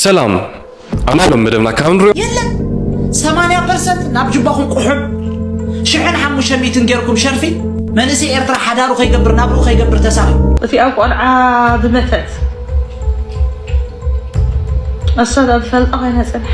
ሰላም ኣና ሎም መደብና ካብ ንሪኦ የለን 80 ፐርሰንት ናብ ጅባኹም ቁሑም ሽሕን ሓሙሽተ ሚእትን ጌርኩም ሸርፊ መንእሰይ ኤርትራ ሓዳሩ ከይገብር ናብርኡ ከይገብር ተሳኺ እቲኣ ቆልዓ ብመተት ኣሳብ ፈልጣ ኮይና ፅንሕ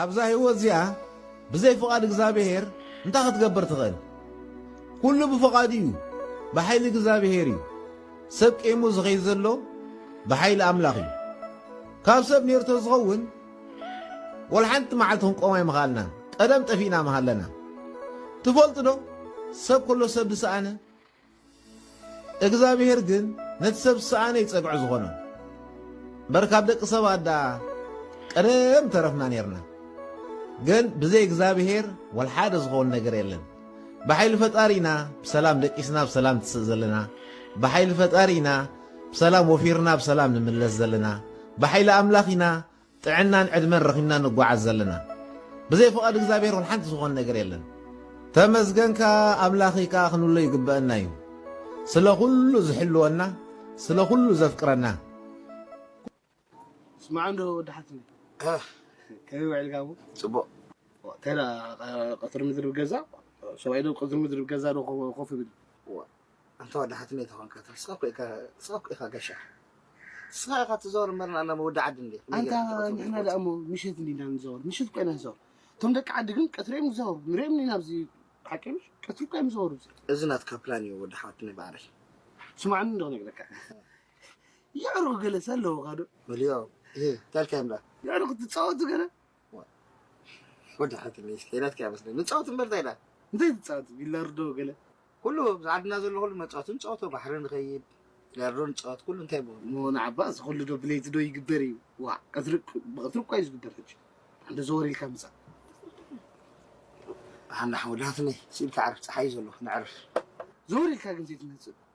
ኣብዛ ህይወት እዚኣ ብዘይ ፍቓድ እግዝኣብሄር እንታይ ክትገብር ትኽእል? ኩሉ ብፍቓዱ እዩ፣ ብሓይሊ እግዝኣብሄር እዩ። ሰብ ቄሙ ዝኸይድ ዘሎ ብሓይሊ ኣምላኽ እዩ። ካብ ሰብ ነይሩ ተዝኸውን ወላ ሓንቲ መዓልቲ ክንቆም ኣይምኸኣልናን፣ ቀደም ጠፊእና ምሃለና። ትፈልጡዶ ሰብ ከሎ ሰብ ዝሰኣነ እግዝኣብሄር ግን ነቲ ሰብ ዝሰኣነ እዩ ጸግዒ ዝኾኖ እምበር ካብ ደቂ ሰባት ደኣ ቀደም ተረፍና ኔርና ግን ብዘይ እግዝኣብሄር ወልሓደ ዝኸውን ነገር የለን ብሓይሊ ፈጣሪ ኢና ብሰላም ደቂስና ብሰላም ንትስእ ዘለና ብሓይሊ ፈጣሪ ኢና ብሰላም ወፊርና ብሰላም ንምለስ ዘለና ብሓይሊ ኣምላኽ ኢና ጥዕናን ዕድመን ረኪብና ንጓዓዝ ዘለና ብዘይ ፍቃድ እግዚኣብሔር ውን ሓንቲ ዝኮነ ነገር የለን ተመስገን ካኣ ኣምላኪ ካኣ ክንብሎ ይግበእና እዩ ስለ ኩሉ ዝሕልወና ስለ ኩሉ ዘፍቅረና። ስማዕ እንዶ ወዲ ሓትነይ ከመይ ውዒልካ እሞ ጽቡቅ። እንታይ ደኣ ቀጽሪ ምድሪ ብገዛ ሰብኣይ ዶ ቀጽሪ ምድሪ ብገዛ ዶ ኮፍ ይብል። ኣንታ ወዲ ሓትነይ ተኾንካ ትስሕቅ ኢካ ትስሕቅ ኢካ ገሻ ትስሕቅ ኢካ ትዞር እምበር ንኣና ወዲ ዓዲ እንዴ ከመይ ኣንታ ጌርካ ትዕወት ንሕና ትፈልጥ? ደኣ እሞ ምሸት እንዲና ንዘወር ምሸት እኮ ኢና ንዘወር እቶም ደቂ ዓዲ ግን ቀትሪ እዮም ዝዘወሩ ንሪኦም ኢና ኣብዚ ሓቂ ድዩ ቀትሪ እኮ እዮም ዝዘወሩ እዚኦም እዚ ናትካ ፕላን እዩ ወዲ ሓትነይ ባዕረይ ስማዕኒ እንዶ ክነግረካ የዕሩኽ ገለስ ኣለዉኻ ዶ በልዮ እህ እንታይ ኢልካዮም ደኣ የዕሩኽ ትጻወቱ ገለ ወድሓት ለ ስከይናትካ ይመስለ ንፃወት እምበር እንታይ ዳ እንታይ ትፃወት ቢላርዶ ገለ ኩሉ ኣብዚ ዓድና ዘሎ ኩሉ መፃወቲ ንፃወቶ ባሕሪ ንኸይድ ቢላርዶ ንፃወት ኩሉ እንታይ ብሆ ሞ ንዓባ እዚ ኩሉ ዶ ብለይቲ ዶ ይግበር እዩ ዋዕ ቀትሪ ብቐትሪ እኳ እዩ ዝግበር ሕጂ እንዶ ዘወር ኢልካ ምፃእ ብሓንዳ ሓወዳትለይ ስኢልካ ዕርፍ ፀሓይ እዩ ዘሎ ንዕርፍ ዘወር ኢልካ ግን ዘይትመፅእ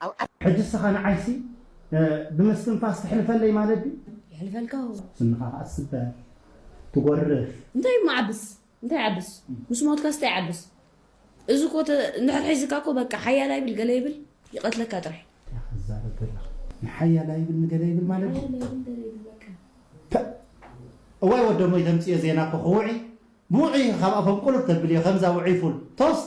ኣብ ዓድ። ሕጂ እስኻ ንዓይሲ ብምስትንፋስ ተሕልፈለይ ማለት ድዩ? የሕልፈልካ እወ። ስንኻ ከኣ ትስበር ትጎርፍ። እንታይ እሞ ዓብስ እንታይ ዓብስ ምስ ሞትካስ እንታይ ዓብስ እዚ እኮ ተ እንድሕር ሒዝካ እኮ በቃ ሓያል ኣይብል ገለ ይብል ይቀትለካ ጥራይ። እንታይ ኢኻ ትዛረብ ዘለኻ ንሓያል ኣይብል ንገለ ይብል ማለት ድዩ? ሓያል ኣይብል ገለ ይብል በቃ። ፐእ እዋይ ወደሞይ ተምጽዮ ዜና እኮ ክውዒ ብውዑይ ኢኺ ካብ ኣፎም ቁልፍ ተብልዮ ከምዛ ውዑይ ፉል ቶስት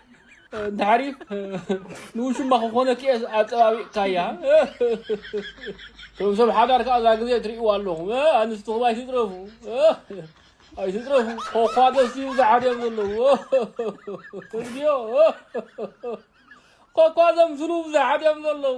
እንተሓር ንውሽማ ክኾነ ክኤስ ኣፀባቢቕካያ እቶም ሰብ ሓዳር ከዓ እዛ ግዜ ትርእይዋ ኣለኹም ኣንስትኹም ኣይትጥረፉ ኣይትጥረፉ ኮኳ ደስ ይብ ዝሓደም ዘለዉ እዝዮ ኮኳ ዘምስሉ ብዙሓት እዮም ዘለዉ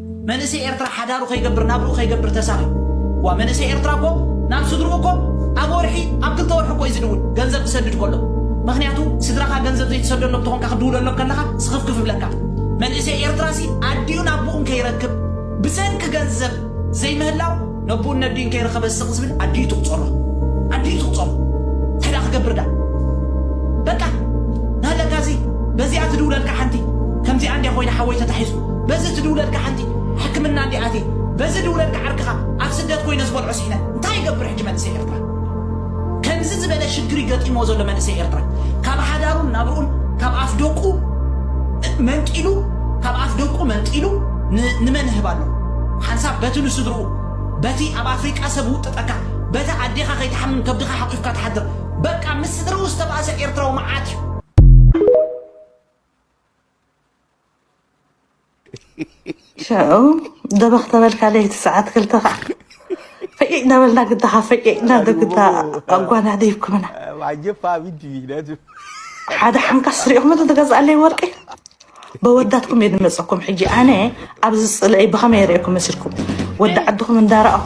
መንእሰይ ኤርትራ ሓዳሩ ከይገብር ናብርኡ ከይገብር ተሳቒ ዋ መንእሰይ ኤርትራ እኮ ናብ ስድርኡ እኮ ኣብ ወርሒ ኣብ ክልተ ወርሒ እኮ እዩ ዝድውል ገንዘብ ክሰድድ ከሎ ምክንያቱ ስድራካ ገንዘብ ዘይትሰደሎም ተኾንካ ክድውለሎም ከለካ ስኽፍክፍ ይብለካ መንእሰይ ኤርትራ ሲ ኣዲኡን ኣቦኡን ከይረክብ ብሰንኪ ገንዘብ ዘይምህላው ነቡኡን ነዲኡን ከይረኸበ ስቕ ዝብል ኣዲኡ ትቑጸሮ ኣዲኡ ትቑጸሮ እንታይ ደኣ ክገብር ደኣ በቃ ናለካ እዚ በዚኣ ትድውለልካ ሓንቲ ከምዚኣ እንዲያ ኮይና ሓወይ ተታሒዙ በዚ ትድውለልካ ሓንቲ ሕክምና እንዲኣ ኣትየ በዚ ድውለልካ ዓርክኻ ኣብ ስደት ኮይነ ዝበልዖ ስኢነ እንታይ ይገብር ሕጂ መንእሰይ ኤርትራ ከምዚ ዝበለ ሽግሪ ገጢምዎ ዘሎ መንእሰይ ኤርትራ ካብ ሓዳሩን ናብርኡን ካብ ኣፍ ደቁ መንቂሉ ካብ ኣፍ ደቁ መንጢሉ ንመን ይህብ ኣሎ ሓንሳብ በቲ ንስድርኡ በቲ ኣብ ኣፍሪቃ ሰብ ውጥጠካ በቲ ኣዴኻ ከይትሓምም ከብድኻ ሓቂፍካ ትሓድር በቃ ምስ ስድርኡ ዝተባእሰ ኤርትራዊ መዓት እዩ። ሸዑ ደበኽ ተበልካ ለይቲ ሰዓት ክልተ ከዓ ፈቂቅ እናበልና ግዳ ካብ ፈቂቅ እና ዶ ግዳ ጓና ደይብኩምና ሓደ ሓንካስ ሪእኹም እቲ ትገዝኣለይ ወርቂ በወዳትኩም እየ ድመፀኩም ሕጂ ኣነ ኣብዚ ፅልዒ ብኸመይ የርእየኩም መሲልኩም ወዲ ዓድኹም እንዳረእኹ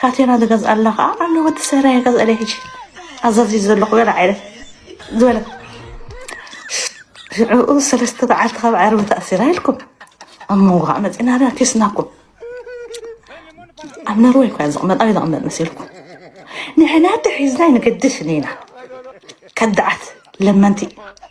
ካቴና ዝገዝኣላ ከዓ ኣነ ወዲ ሰራየ ገዝእለይ ሕጂ ኣዛዚ ዘለኹ ገለ ዓይነት ዝበለ ሽዑኡ ሰለስተ በዓልቲ ካብ ዓርቢ ተኣሲራ ኢልኩም ኣብ መንጎ ከዓ መፂና ዳ ኪስናኩም ኣብ ነርወይ እኳ ዝቕመጥ ኣበይ ዝቕመጥ መሲልኩም ንሕና ተሒዝና ይንገድሽ እኒና ከዳዓት ለመንቲ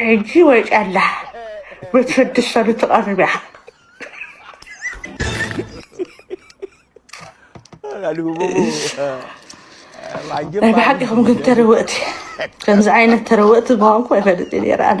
ሕጂ ወይጨላ ብትፍድሽ ሰሉ ትቐርብ እያ። ናይ ብሓቂ ከም ግን ተረወእቲ ከምዚ ዓይነት ተረወእቲ ምዃንኩ ኣይፈልጥ እዩ ነይረ ኣነ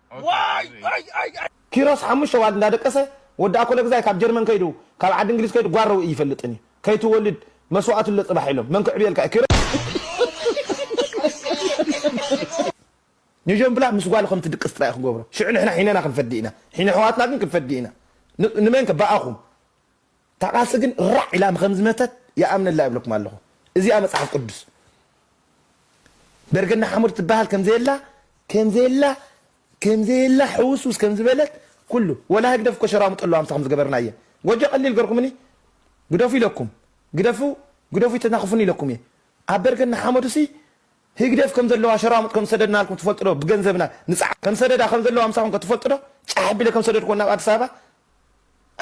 ኪሮስ ሓሙሽተ ኣዋልድ እንዳደቀሰ ወዲ ኣኮለግዛይ ካብ ጀርመን ከይዱ ካብ ዓዲ እንግሊዝ ከይዱ ጓል ረዊኡ እይፈልጥን እዩ ከይትወልድ መስዋእቲ ኣሎ ፅባሕ ኢሎም መን ክዕብየልካ እዩ ኪሮስ ንጀምብላ ምስ ጓሉ ከም ትድቅስ ጥራይ እዩ ክገብሮ ሽዑ ንሕና ሒነና ክንፈዲ ኢና ሒነ ኣሕዋትና ግን ክንፈዲ ኢና ንመን ከ ብኣኹም። እታ ቃልሲ ግን ራዕ ኢላ ከም ዝመተት ይኣምነላ ይብለኩም ኣለኹ እዚኣ መጽሓፍ ቅዱስ ደርገና ሓሙር ትበሃል ከም ዘየላ ከም ዘየላ ከም ዘየላ ሕውስውስ ከም ዝበለት ኩሉ ወላ ህግደፍ እኮ ሸራሙጥ ኣለዋ ምሳኹም ዝገበርናየ ጎጆ ቀሊል ገርኩምኒ ግደፉ ኢለኩም ግደፉ ግደፉ ይተናኽፉኒ ኢለኩም እየ ኣብ በርገና ሓመዱሲ ህግደፍ ከም ዘለዋ ሸራሙጥ ከም ዝሰደድናልኩም ትፈልጡ ዶ ብገንዘብና ንጻዕ ከም ሰደዳ ከም ዘለዋ ምሳኹም ከ ትፈልጡ ዶ ጫሕ ኣቢለ ከም ሰደድኩዎ ናብ ኣዲስ ኣበባ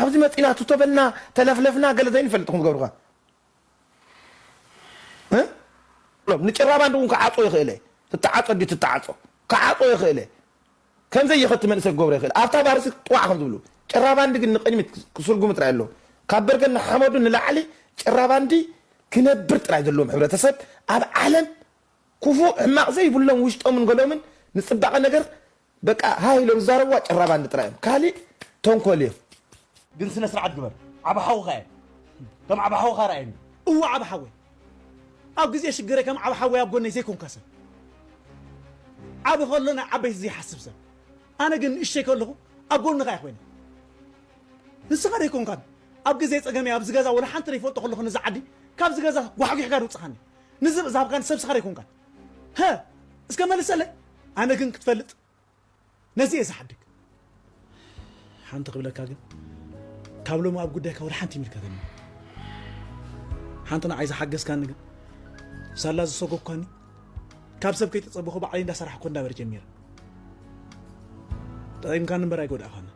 ኣብዚ መጺና ቱቶ በልና ተለፍለፍና ገለ ዘይንፈልጥ ኢኹም ትገብሩኻ እ ንጭራባ እንድውን ክዓጾ ይኽእል እየ ትተዓጾ ድዩ ትተዓጾ ክዓጾ ይኽእል እየ ከም ዘይኸቲ መንእሰይ ክገብሮ ይኽእል ኣብታ ባርሲ ጥዋዕ ከም ዝብሉ ጭራባ እንዲ ግን ንቕድሚት ክስርጉሙ ጥራይ ኣለዎ ካብ በርገን ንሓመዱ ንላዕሊ ጭራባ እንዲ ክነብር ጥራይ ዘለዎም ሕብረተሰብ ኣብ ዓለም ክፉእ ሕማቕ ዘይብሎም ውሽጦምን ገሎምን ንጽባቐ ነገር በቃ ሃህ ኢሎም ዝዛረብዋ ጭራ ባንድ ጥራይ እዮም ካሊእ ተንኮል እዮም። ግን ስነ ስርዓት ግበር ዓቢ ሓውካ እየ ከም ዓቢ ሓውካ ርኣየኒ። እወ ዓቢ ሓወይ ኣብ ግዜ ሽግረይ ከም ዓቢ ሓወይ ኣብ ጎነይ ዘይኮንካ ሰብ ዓቢ ከሎ ናይ ዓበይቲ ዘይሓስብ ሰብ ኣነ ግን ንእሽተይ ከለኩ ኣብ ጎንካ እየ ኮይነ ንስካ ደይኮንካን ኣብ ግዜ ጸገመይ ኣብዚ ገዛ ወላ ሓንቲ ደይፈልጦ ከለኩ ነዛ ዓዲ ካብዚ ገዛ ጓሕጒሕካ ደውጽካኒ ንዝብእ ዝሃብካኒ ሰብ ስካ ደይኮንካን ሀ እስከ መልሰለይ ኣነ ግን ክትፈልጥ ነዚ እየ ዝሓድግ ሓንቲ ክብለካ ግን ካብ ሎሚ ኣብ ጉዳይካ ወላ ሓንቲ ይምልከተኒ ሓንቲ ንዓይ ዝሓገዝካኒ ግን ሳላ ዝሰጎብካኒ ካብ ሰብ ከይተፀበኹ ባዕለይ እንዳሰራሕኩ እንዳበር ጀሚረ ጠቒምካኒ እምበር ኣይጎዳእኻንን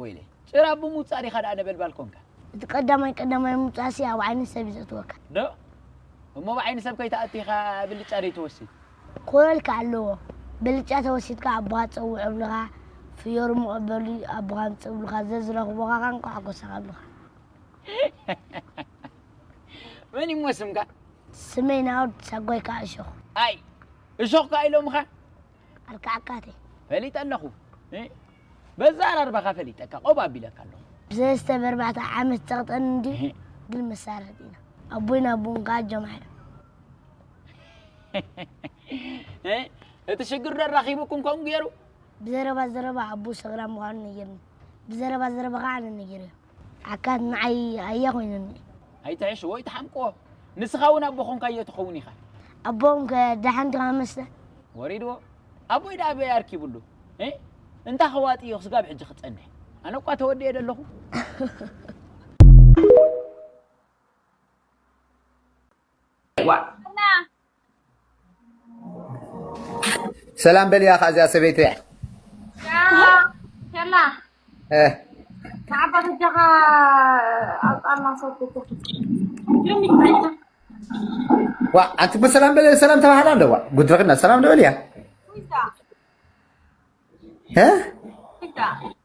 ወይለይ ጭራ ኣቦ ምውጻእ ዲኻ ደኣ ነበልባል ኮንካ። እቲ ቀዳማይ ቀዳማይ ምውጻእሲ ኣብ ዓይኒ ሰብ እዩ ዘእትወካ። ዶ? እሞ ኣብ ዓይኒ ሰብ ከይትኣቱ ኢኻ ብልጫ ደይትወስድ? ክኾነልካ ኣለዎ። ብልጫ ተወሲድካ ኣቦኻ ጸውዕ እብልኻ፣ ፍዮሪ ሞቕ በሊ ኣቦኻ ኣምጽእ እብልኻ፣ ዘዝረኽቡኻ ከኣ እንቋዕ ጎሳኻ እብልኻ። መን እዩሞ ስምካ? ስመይ ናኦድ ሳጓይ ከኣ እሾኽ። ኣይ! እሾኽ ከኣ ኢሎምኻ? ኣልካዕካተይ። ፈሊጠ ኣለኹ። በዛራርባኻ ፈሊጠካ ቆብ ኣቢለካ ኣለኹ። ብሰለስተ በርባዕተ ዓመት ጸቕጠን እንዲ ግን መሳርሕት ኢና ኣቦይን ኣቦን ከኣ ጀምዓ እዮም። እቲ ሽግር ዶ ኣራኺቡኩም ከምኡ ገይሩ? ብዘረባ ዘረባ ኣቦ ሰግራ ምዃኑ ነጊርኒ ብዘረባ ዘረባ ከኣ ኣነ ነጊረዮ። ዓካት ንዓይ ኣያ ኮይኑኒ። ኣይትሕሽ ወይ ትሓምቅዎ ንስኻ ውን ኣቦ ኮንካዮ ትኸውን ኢኻ። ኣቦኦም ከ ደሓን ድኻ መስተ። ወሪድዎ ኣቦይ ደኣ ኣበይ ኣርኪብሉ እህ እንታ ከዋጥዮ ክስጋብ ሕጂ ክጸንሕ ኣነ እኳ ተወዲኤ ደለኹ። ሰላም በልያ ከዓ እዚኣ ሰበይቲ እያ ሸላ ንዓባት እጃኻ ኣውፃና ሰብትክ ዋ ኣንቲ እኮ ሰላም በለ ሰላም ተባህላ ኣለዋ ጉድ ረኺብና ሰላም ንበልያ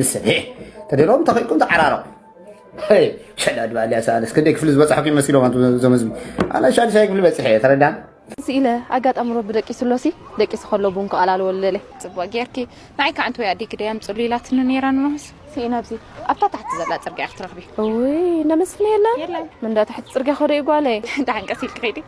ንሰ ተደሎም ተኽኢልኩም ተዓራረቑ ሸዳ ድማ እልያ ሰኣነስ ክንደይ ክፍሊ ዝበፅሐኩ ይመስሎም ዞም ህዝቢ ኣነ ሻድሻይ ክፍሊ በፂሐ እየ ተረዳን ስኢለ ኣጋጣሚ ረቢ ደቂሱ ኣሎሲ ደቂሱ ከሎ ቡን ክኣላሉ ወለለ ፅቡቅ ጌርኪ ንዓይ ከዓ እንተወይ ኣዴኪ ደይ ኣምፅሉ ኢላትኒ ነይራ ንኖስ ስኢነ ኣብዚ ኣብታ ታሕቲ ዘላ ፅርግያ ክትረኽቢ እውይ እንዳመስፍን የለን እንዳ ታሕቲ ፅርግያ ከዶ እዩ ጓለይ ደሓን ቀስ ኢልኪ ከይዲ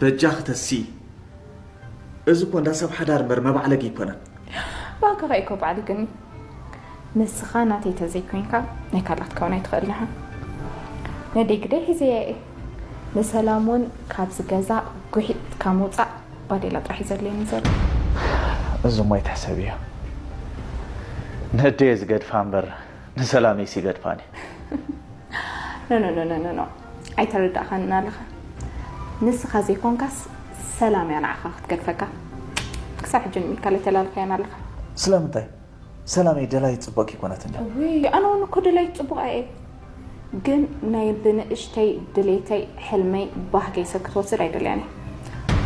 በጃኺ ተሲ እዚ እኮ እንዳ ሰብ ሓዳር እምበር መባዕለጊ ኣይኮነን። ባእካ ከ እኮ ባዕል ግን ንስካ ናተይ ተዘይኮይንካ ናይ ካልኣ ክትከውን ኣይትክእልን ኢካ ነደይ ግደይ ሒዘያ እየ ንሰላም ውን ካብዚ ገዛ ጉሒጥካ ምውጻእ ባዴላ ጥራሕ እዩ ዘድልየኒ ዘሎ። እዚ እሞ ኣይትሕሰብዮ ነደየ ዝገድፋ እምበር ንሰላመይ ሲ ገድፋኒ። ኖኖኖኖኖኖ ኣይተረዳእካንን ኣለኻ ንስኻ ዘይኮንካስ ሰላም እያ ንዓኻ ክትገድፈካ ክሳብ ሕጂ ንሚካል ኣይተላልኻዮን ኣለኻ። ስለምንታይ ሰላመይ ደላይት ጽቡቅ ከይኮነት እንድያ። እውይ ኣነ ውን እኮ ደላይት ጽቡቅ ኣየ። ግን ናይ ብንእሽተይ ድሌተይ ሕልመይ ባህገይ ሰብ ክትወስድ ኣይደልያን እየ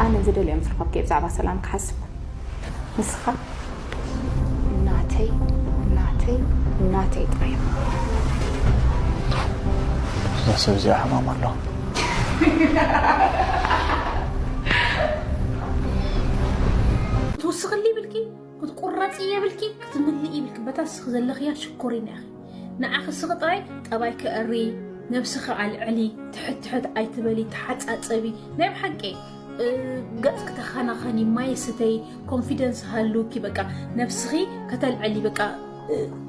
ኣነ ዝደልዮ ምስ ረኸብከ ብዛዕባ ሰላም ክሓስብ ንስኻ ናተይ ናተይ ናተይ ጥራይ እዛ ሰብ እዚኣ ሕማም ኣለዋ ትውስኽልይ ብልኪ ክትቁረፂ የብልኪ ክትምልእ ይብልኪ በታ ንስኺ ዘለኽያ ሽኮሪና ኢኺ ንዓኺ ስኺ ጥራይ ጠባይኪ እርዪ ነብስኺ ኣልዕሊ ትሕት ትሕት ኣይትበሊ ተሓፃፀቢ ናይ ብሓቂ ገፅኪ ተኸናኸኒ ማይ ስተይ ኮንፊደንስ ሃልውኪ በቃ ነብስኺ ከተልዕሊ በቃ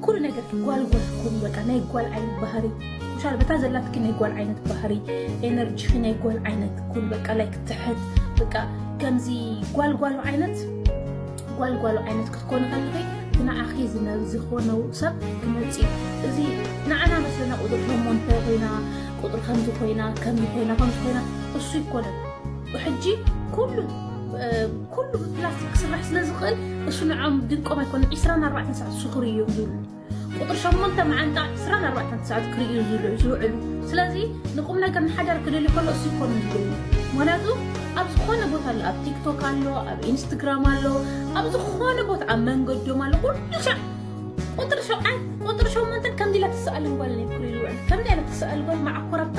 ኩሉ ነገርኪ ጓል ጓል ክትኮኒ በቃ ናይ ጓል ዓይነት ባህሪ ምሻል በታ ዘላትኪ ናይ ጓል ዓይነት ባህሪ ኤነርጂኺ ናይ ጓል ዓይነት ኩን በቃ ላይ ክትሕት በቃ ከምዚ ጓል ጓሉ ዓይነት ጓል ጓሉ ዓይነት ክትኮኒ ከለኺ እቲ ንዓኺ ዝኾነ ሰብ ክመፅ እዩ እዚ ንዓና መስለና ቁፅሪ ሸሞንተ ኮይና ቁፅሪ ከምዚ ኮይና ከምዚ ኮይና ከምዚ ኮይና እሱ ይኮነን ሕጂ ኩሉ ኩሉ ብፕላስቲክ ክስራሕ ስለ ዝኽእል እሱ ንዖም ድንቆም ኣይኮነን ዒስራን ኣርባዕተን ሰዓት እሱ ክርእዩ ዝብሉ ቁጥሪ ሸሞንተ መዓንጣ ዒስራን ኣርባዕተን ሰዓት ክርእዩ ዝብሉ ዝውዕሉ ስለዚ ንቁም ነገር ንሓዳር ክደሊ ከሎ እሱ ይኮኑ ዝብሉ ምክንያቱ ኣብ ዝኾነ ቦታ ኣሎ ኣብ ቲክቶክ ኣሎ ኣብ ኢንስትግራም ኣሎ ኣብ ዝኾነ ቦታ ኣብ መንገዶም ኣሎ ኩሉ ሻዕ ቁጥሪ ሸውዓን ቁጥሪ ሸሞንተን ከምዚ ኢላ ትስኣል ጓል ናይ ኩሪ ዝውዕል ከምዚ ኢላ ትስኣል ጓል ማዓኮራብታ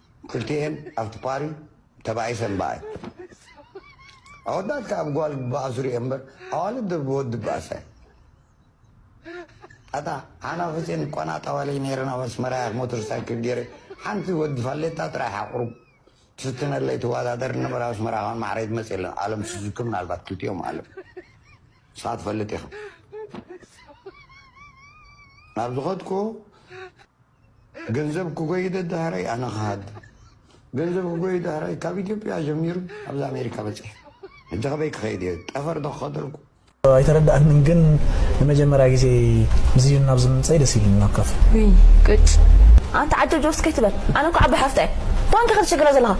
ክልቲኤን ኣብቲ ፓሪ ተባኢሰን በኣይ ኣወዳት ከኣ ኣብ ጓል ክበኣሱ ሪኤ እምበር ኣዋልድ ዶ ብወዲ ክበኣሳ ኣታ ሓናፍጼን ቆናጣዋለይ ነይረ ናብ ኣስመራያ ሞተር ሳይክል ገይረ ሓንቲ ወዲ ፋሌታ ጥራሕ እያ ቁሩብ ትፍትነለይ ትወዳደር እነበረ ኣስመራ ከውን ማዕረ ይትመጽእ የለን ኣለም ሱዙኪ ምናልባት ክልቲኦም ኣለም ንስኻ ትፈልጥ ኢኻ ናብ ዝኸድኩ ገንዘብ ክጎይ ደድሃረይ ኣነ ክሃድም ገንዘብ ክጎይ ዳህራይ ካብ ኢትዮጵያ ጀሚሩ ኣብዚ ኣሜሪካ በፂሐ ሕጂ ከበይ ክኸይድ እየ ጠፈር ዶ ክኸድ ኣልኩ። ኣይተረዳኣንን ግን ንመጀመርያ ግዜ ዝዩን ናብዚ ምምፀይ ደስ ኢሉኒ ናብ ካፈ። ውይ ቅጭ ኣንታ ዓጀውጀው እስከይ ትበል ኣነ እኮ ዓባይ ሓፍታ እየ ኳንካ ከትሸግራ ዘለካ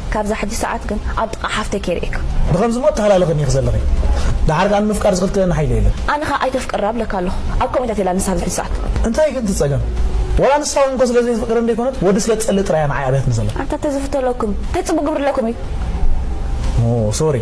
ካብዛ ሕጂ ሰዓት ግን ኣብ ጥቃ ሓፍተይ ከይርእየካ። ብኸምዚ እሞ ኣተሃላልኽኒ ኢኺ ዘለኺ። ደሓር ከኣ ንምፍቃር ዝኽልክለኒ ሓይሊ የለን። ኣነ ከኣ ኣይተፍቅራ እብለካ ኣለኹ። ኣብ ከምኡ ኢያ ተላ ንሳ ኣብዚ ሕጂ ሰዓት። እንታይ ግን እቲ ጸገም? ወላ ንሳ ውን እኮ ስለ ዘይትፍቅረኒ ደይኮነት ወዲ ስለ ትጸልእ ጥራይ እያ ንዓይ ኣብያትኒ ዘላ። ኣንታ ተዝፍተለኩም ታይ ጽቡቅ ግብሪ ኣለኩም እዩ። ሶሪ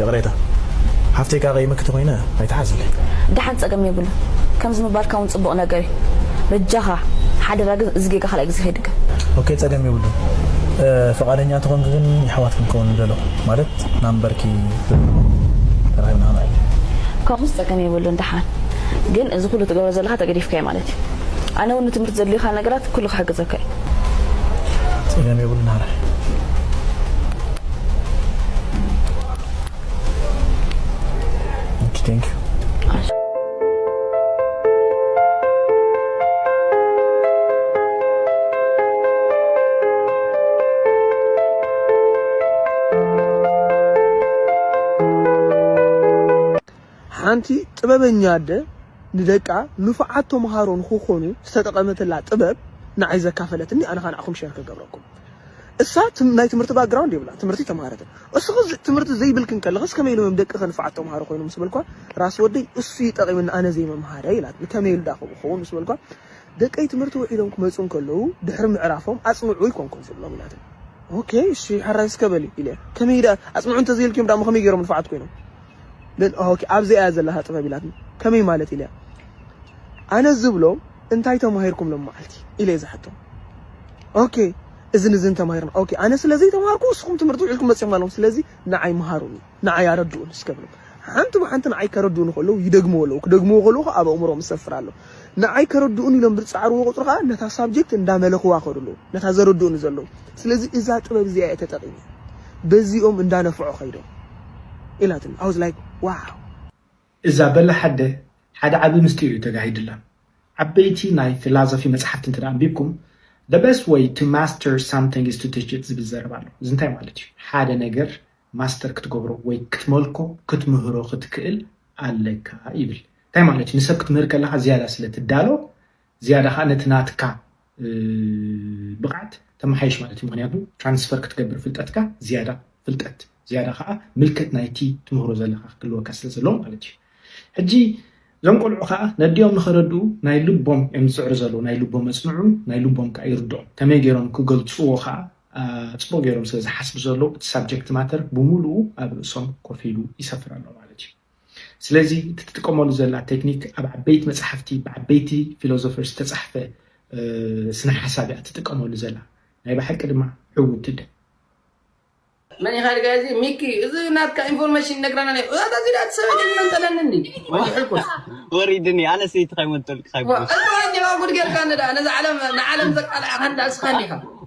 ይቕሬታ ሓፍተይ ቀቂይምኪ ተኾይነ ኣይትሓዝኒ። ደሓን ጸገም የብሉን ከምዚ ምባልካ ውን ጽቡቅ ነገር እዩ በጃኻ ሓደራ ግን እዚ ጌጋ ካልኣይ ግዜ ከይድገም። ኦኬ ጸገም የብሉን ፍቃደኛ እንተኮንኪ ግን የሕዋት ክንከውን ንደሎ ማለት ናምበርኪ ብብሎክ ተራኪብና ክንዕልል። ከምኡስ ጸገም የብሉን ደሓን ግን እዚ ኩሉ ትገብሮ ዘለኻ ተገዲፍካዮ ማለት እዩ። ኣነ ውን ንትምህርቲ ዘድልዩካ ነገራት ኩሉ ክሕግዘካ እዩ። ጸገም የብሉን ሃራይ። Thank you. ሓንቲ ጥበበኛ ኣደ ንደቃ ንፉዓት ተምሃሮ ንኽኾኑ ዝተጠቐመትላ ጥበብ ንዓይ ዘካፈለትኒ ኣነ ከኣ ንዓኹም ሸር ክገብረኩም እሳ ናይ ትምህርቲ ባክግራውንድ የብላን ትምህርቲ ተምሃረትን እስኺ ትምህርቲ ዘይብልክን ከለኽስ ከመይ ኢሎም ደቅኺ ንፉዓት ተምሃሮ ኮይኖም ምስ በልኳ ራስ ወደይ እሱ እዩ ጠቒምኒ ኣነ ዘይምምሃረይ ኢላትኒ ከመይ ኢሉ ድኣ ከምኡ ክኸውን ምስ በልኳ ደቀይ ትምህርቲ ውዒሎም ክመፁ እንከለዉ ድሕሪ ምዕራፎም ኣፅንዑ ኣይኮንኩን ዝብሎም ኢላትኒ ኦኬ እሺ ሕራይ እስከ በሊ ኢለ ከመይ ድኣ ኣፅንዑ እንተዘይልክዮም ድኣ ከመይ ገይሮም ንፉዓት ኮይኖም ን ኦኬ ኣብዚ ኣያ ዘላታ ጥበብ ኢላትኒ ከመይ ማለት ኢለያ ኣነ ዝብሎም እንታይ ተማሂርኩም ሎማዓልቲ ኢለ ዝሓቶም ኦኬ እዝን እዝን ተማሂርና ኦኬ ኣነ ስለ ዘይተማሃርኩ ንስኹም ትምህርቲ ውዒልኩም መጺኹም ኣለኹም ስለዚ ንዓይ መሃሩኒ ንዓይ ኣረድኡኒ እስከ ብሎም ሓንቲ ብሓንቲ ንዓይ ከረድኡኒ ከለዉ ይደግምዎ ኣለዉ ክደግምዎ ከለዉ ኣብ ኣእምሮኦም ይሰፍር ኣሎ ንዓይ ከረድኡኒ ኢሎም ዝጻዕርዎ ቁጽሪ ከኣ ነታ ሳብጀክት እንዳመለኽዋ ከዱ ኣለዉ ነታ ዘረድኡኒ ዘለዉ ስለዚ እዛ ጥበብ እዚኣ እየ ተጠቂመ በዚኦም እንዳነፍዑ ከይዶም ኢላትኒ I was like wow። እዛ በላሕ ኣደ ሓደ ዓቢ ምስጢር እዩ ተጋሂድላ። ዓበይቲ ናይ ፍላዞፊ መጽሓፍቲ እንተ ኣንቢብኩም the best way to master something is to teach it ዝብል ዘረባ ኣሎ እዚ እንታይ ማለት እዩ ሓደ ነገር ማስተር ክትገብሮ ወይ ክትመልኮ፣ ክትምህሮ ክትክእል ኣለካ ይብል። እንታይ ማለት እዩ? ንሰብ ክትምህር ከለኻ ዝያዳ ስለ ትዳሎ፣ ዝያዳ ከኣ ነቲ ናትካ ብቕዓት ተመሓይሽ ማለት እዩ። ምኽንያቱ ትራንስፈር ክትገብር ፍልጠትካ ዝያዳ ፍልጠት፣ ዝያዳ ከኣ ምልከት ናይቲ ትምህሮ ዘለኻ ክህልወካ ስለ ዘለዎ ማለት እዩ። ሕጂ እዞም ቆልዑ ከኣ ነዲኦም ንኸረድኡ ናይ ልቦም እዮም ዝጽዕሩ ዘለዉ፣ ናይ ልቦም የጽንዑ፣ ናይ ልቦም ከኣ ይርድኦም። ከመይ ገይሮም ክገልጽዎ ከኣ ጽቡቕ ገይሮም ስለ ዝሓስቡ ዘለዉ እቲ ሳብጀክት ማተር ብሙሉኡ ኣብ ርእሶም ኮፍ ኢሉ ይሰፍር ኣሎ ማለት እዩ። ስለዚ እቲ ትጥቀመሉ ዘላ ቴክኒክ ኣብ ዓበይቲ መጻሕፍቲ ብዓበይቲ ፊሎዞፈር ዝተጻሕፈ ስነ ሓሳብ እያ ትጥቀመሉ ዘላ። ናይ ብሓቂ ድማ ዕውቲ እደ። መን ኢኻ ኢልካዮ እዚ ሚኪ እዚ ናትካ ኢንፎርሜሽን ይነግረና ነይሩ እዛ እዚ ደኣ ትሰበ ጀግና እንጠለንኒ ወይ ሕልኩስ ወሪድኒ ኣነ ሰይቲ ካይመንጠልኩ ካይብሉ እዚ ወንጀላ ጉድ ጌርካኒ ደኣ ነዚ ዓለም ንዓለም ዘቃልዓኻ እንዳ እስኻ እንዲኻ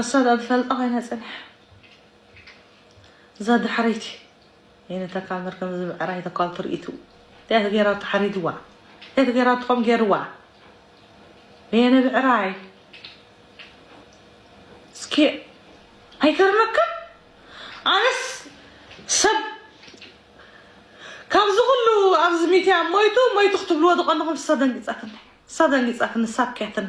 እሳ ዳኣ ዝፈልጣ ኮይና ጽንሕ እዛ ዳሕረይቲ ይነ ተካምር ከምዚ ብዕራይ ተካል ትርኢቱ እንታይ ገራቶ ሓሪድዋ እንታይ ገራቶ ከም ገርዋ ይነ ብዕራይ እስኪ ኣይገርመካ ኣነስ ሰብ ካብዚ ኩሉ ኣብዚ ሚድያ ሞይቱ ሞይቱ ክትብልዎ ዝቀለኹም እሳ ደንጊጻትኒ እሳ ደንጊጻትኒ ሳብኪያትኒ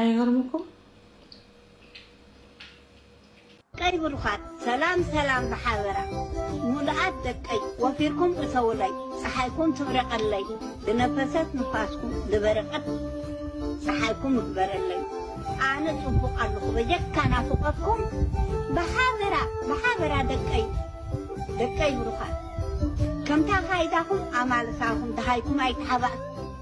ኣይገርምኩም ደቀይ ብሩኻት ሰላም ሰላም ብሓበራ ሙሉኣት ደቀይ ወፊርኩም እተውለይ ፀሓይኩም ትብረቀለይ ዝነፈሰት ንፋስኩም ዝበረቀት ፀሓይኩም እግበረለይ ኣነ ፅቡቅ ኣለኹ በጀካ ናፍቆትኩም ብሓበራ ብሓበራ ደቀይ ደቀይ ብሩኻት ከምታ ካይዳኹም ኣማልሳኹም ደሃይኩም ኣይተሓባእ